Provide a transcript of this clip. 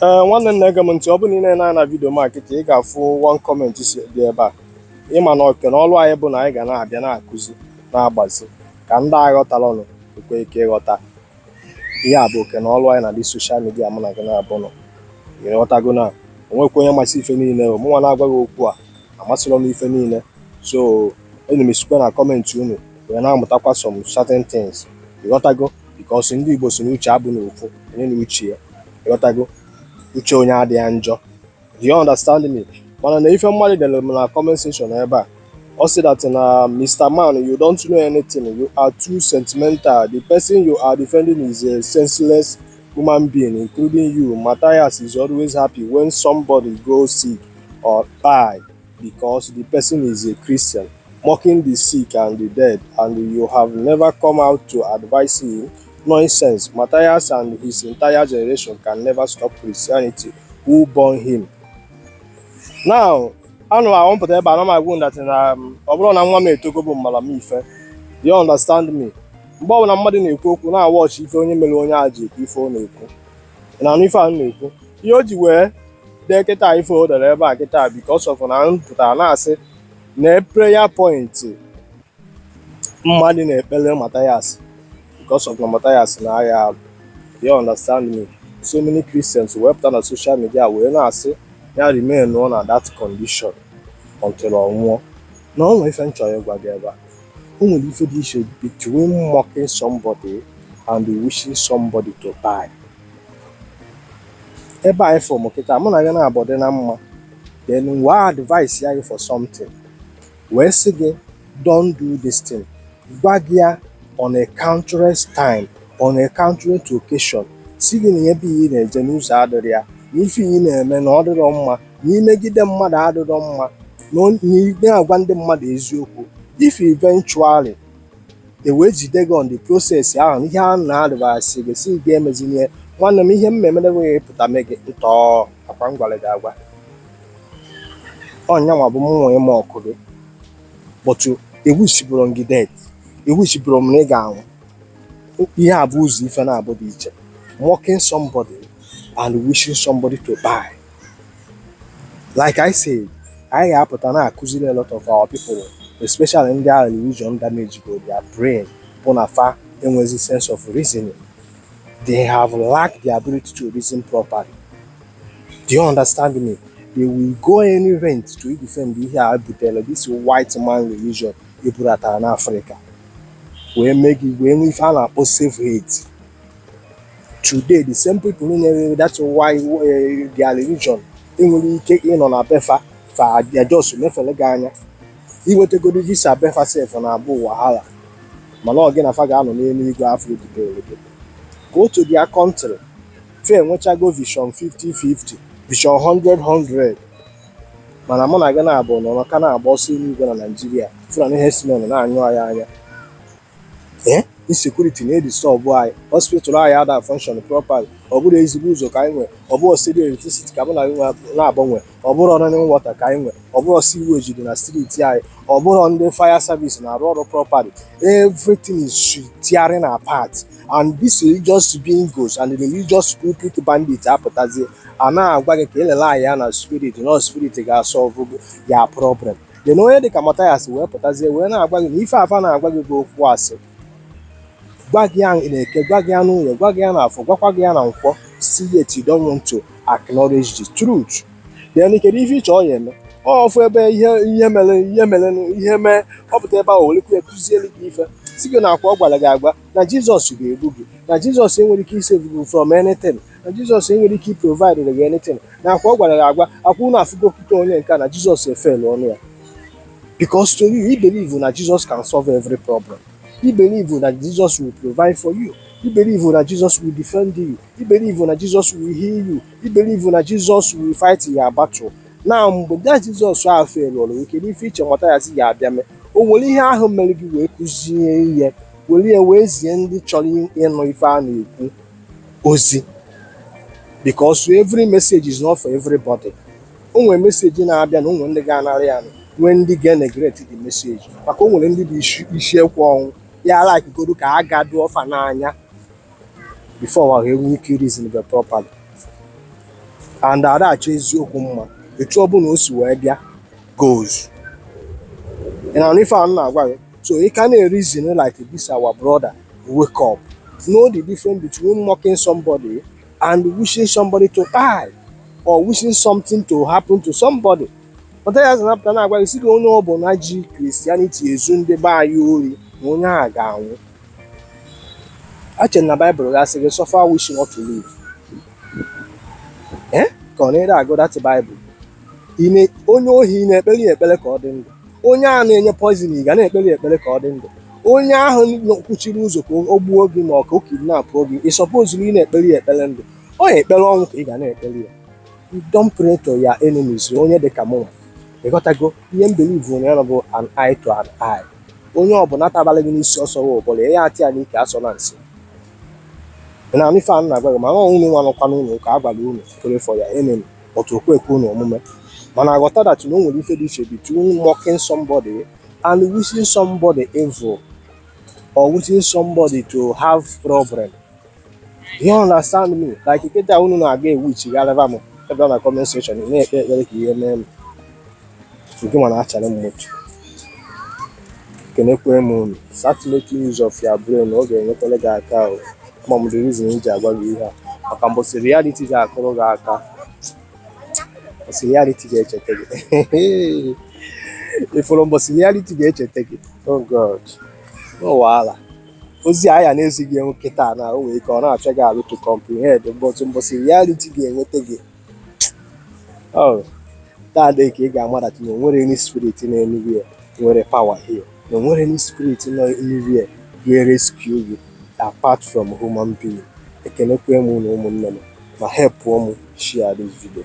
ee eh, nwanne m na-ege m ntị ọ bụrụ na ị na-ene na vidio m a kịta ị ga-afụ one comment si dị ebe a ịma na oke na ọrụ anyị bụ na anyị ga na-abịa na-akụzi na-agbazi ka ndị aghọtarọnụ nwee ike ịghọta ihe a bụ oke na ọrụ anyị na this social media mụ na gị naabụ nọ ịghọtago na o nwekwa onye masị ife niile mụnwa na-agwa gị okwu a amasịrọ m ife niile so ana m esikwa na comment unu wee na-amụtakwa some certain things ịghọtago because ndị Igbo si na uche abụrọ ofu onye na uche ya ịghọtago uche onye adị ya njọ do you understand me mana na ife mmadụ dere m na comment section ebe a ọ sị that na Mr. Man you don't know anything you are too sentimental the person you are defending is a senseless human being including you Matthias is always happy when somebody goes sick or die Because the person is a Christian, mocking the sick and the dead, and you have never come out to advise him? Nonsense. Matthias and his entire generation can never stop Christianity. Who born him? Now, ọ na-abụ m pụta ebe a m na-agwa unu that na um, ọ bụrọ na nwa m etogo bụ mmara m ife you understand me mgbe ọbụla mmadụ na-ekwu okwu na-awatch ife onye mere onye a ji ekwu ife ọ na-ekwu na-anụ ife a na-ekwu ihe o ji wee dee kịta ife o dere ebe a kịta because of na m pụtara na-asị nee prayer point mmadụ na-ekpere Mathias because of na Mathias na-aya arụ you understand me so many Christians wee pụta na social media wee na-asị ya remain nọ na that condition until ọ nwụọ now o nwere ife m chọrọ ịgwa gị ebe a o nwere ife dị iche between mocking somebody and wishing somebody to die ebe a ịfụ m kịta mụ na gị naabụ dị na mma then wee advice ya gị for something wee sị gị don't do this thing gwa gị ya on a countless time on a countless occasion si gị na ebe ị na-eje na ụzọ adịrọ ya na ife ị na-eme na ọ dịrọ mma na imegide mmadụ adịrọ mma na ị naghị agwa ndị mmadụ eziokwu if eventually e wee jide gị on the process ahụ ihe a na-advise gị si gị emezina nwanne m ihe m ga-eme bụ wee pụta mee gị ntọọ ọ kwa m gwara gị agwa ọ nyanwa bụ mụ ịmock gị but ewishibụrọ m gị death ewishibụrọ m na ị ga-anwụ ihe a bụ ụzọ ife naabụ dị iche mocking somebody and wishing somebody to die like I said anyị ga-apụta na-akụziri a lot of our people especially ndị ahụ religion damage go their brain bụ na fa enwezi sense of reasoning they have lacked the ability to reason properly do you understand me they will go any length to defend ihe e butere this white man religion e bubatara n'afrịka wee mee gị wee nwee ife a na-akpọ self hate today the same people nyere that's why eh, their religion enwere ike ịnọ na be fa fa ajọs mefere gị anya iwetegodi visa be fa sef na-abụ wahala mana ọ gị na fa ga-anọ n'eluigwe afọ ebidoro gị go to their country fa enwechago vision 50-50 vision 100-100 mana mụ na gị na-abụ nọ ka na-agba ọsọ eluigwe na naijiria fụlani herdsmen na-anyụ anyị anya ee insecurity na-edisọbụ anyị hospital anyị ada function properly ọ bụrọ ezigbo ụzọ ka anyị nwee ọ bụrọ steady electricity ka mụ na gị nwe- na-agbanwe ọ bụrọ running water ka anyị nwee ọ bụrọ sewage dị na streeti anyị ọ bụrọ ndị fire service na-arụ ọrụ properly everything is tearing apart and this religious bingos and religious pulpit bandits apụtazie a na-agwa gị ka e lele anya ya na spirit na spirit ga-asọlve your problem then onye dịka Mathias wee pụtazie wee na-agwa gị na ife a fa na-agwa gị bụ okwu asị gwa gị ya n'eke gwa gị ya n'oye gwa gị ya n'afọ gwakwa gị ya na nkwọ still yet you don't want to acknowledge the truth then kedu ife i che ọ ya-eme ọ fụ ebe ihe ihe mere ihe mere ihe mee ọ pụta ebe ahụ werekwu ya kụzielu gị ife si gị na ọkwa ọ gwara gị agwa na jizọs ga-egbu gị na jizọs enwerọ ike isevu gị from anything na jizọs enwerọ ike iprovidere gị anything na ọkwa ọ gwara gị agwa ọkwa unu afụgo otu onye nke a na jizọs efelu ọnụ ya because to you i believe na jesus can solve every problem i believe na jesus will provide for you i believe na jesus will defend you i believe na jesus will heal you i believe na jesus will fight your battle now mgbe bịa jizọs ahụ feluru gị kedu ife i che Mathias ya-abịa mee o were ihe ahụ mere gị wee kụzie ihe were ya wee zie ndị chọrọ ịnụ ife a na-ekwu ozi because every message is not for everybody o nwere meseji na-abịa na o nwe ndị ga-anara ya nwee ndị ga-eneglect the message maka o nwere ndị bụ isi ekwe ọnwụ ya alakigodo ka a ga-adụ ọfa n'anya before wa enwee ike reasonbe properly and a da-achọ eziokwu mma etu ọ bụla o si wee bịa guys ị na-anụ ife a m na-agwa gị So you can reason like this our brother wake up. Know the difference between mocking somebody and wishing somebody to die or wishing something to happen to somebody. But as an after now, you see the only one Bonaji Christianity is in the bar you onye a ga-anwụ. Ache na Baịbụl gasị gị suffer wishing not to live. Eh? Ka ọ na-ere agụ that Bible. onye ohi ị na-ekpere ya ekpere ka ọ dị ndụ onye a na-enye poizin ị ga na-ekpere ya ekpere ka ọ dị ndụ onye ahụ kwuchiri ụzọ ka o gbuo gị ma ọ ka o kidnapụ gị ị sọpozurọ ịna-ekpere ya ekpere ndụ only ekpere ọnwụ ka ị ga na-ekpere ya don't pray to your enemies onye dị ka mụnwa ị ghọtago ihe m believe na ya bụ an eye to an eye onye ọbụla tabara gị n'isi ọ sọrọ ụbụlụ ya ataa ya n'ike asọna nsị na ife a na-agwa gị ma unu nwa nọkwa n'ụlọ ụka a gwara unu pray for your enemy but o kwekwa unu omume mana ghọta that na o nwere ife dị iche between mocking somebody and wishing somebody evil or wishing somebody to have problem you understand me like kịta unu na-aga ewishigharịba m evil na comment section na-ekpe ekpere ka ihe mee m nke mana achara m moto kenekwe m unu start making use of your brain ọ ga-enyekwere gị aka o ma m the reason m ji agwa gị ihe a maka mbọsị reality ga-akụrụ gị aka mbọsị reality ga-echeta gị ị fụrụ mbọsị reality ga-echeta gị oh god no wahala ozi anyị na-ezi gị nwa kịta na o nwere ike ọ na-achọ gị alụ to comprehend mbọsị mbọsị reality ga-enweta gị Oh, that day ka ị ga-amatacha na o nwere any spirit nọ anywhere nwere power here. Na o nwere any spirit nọ anywhere wee rescue you apart from human being. Ekenekwe m unu ụmụnne m ma help m share this video.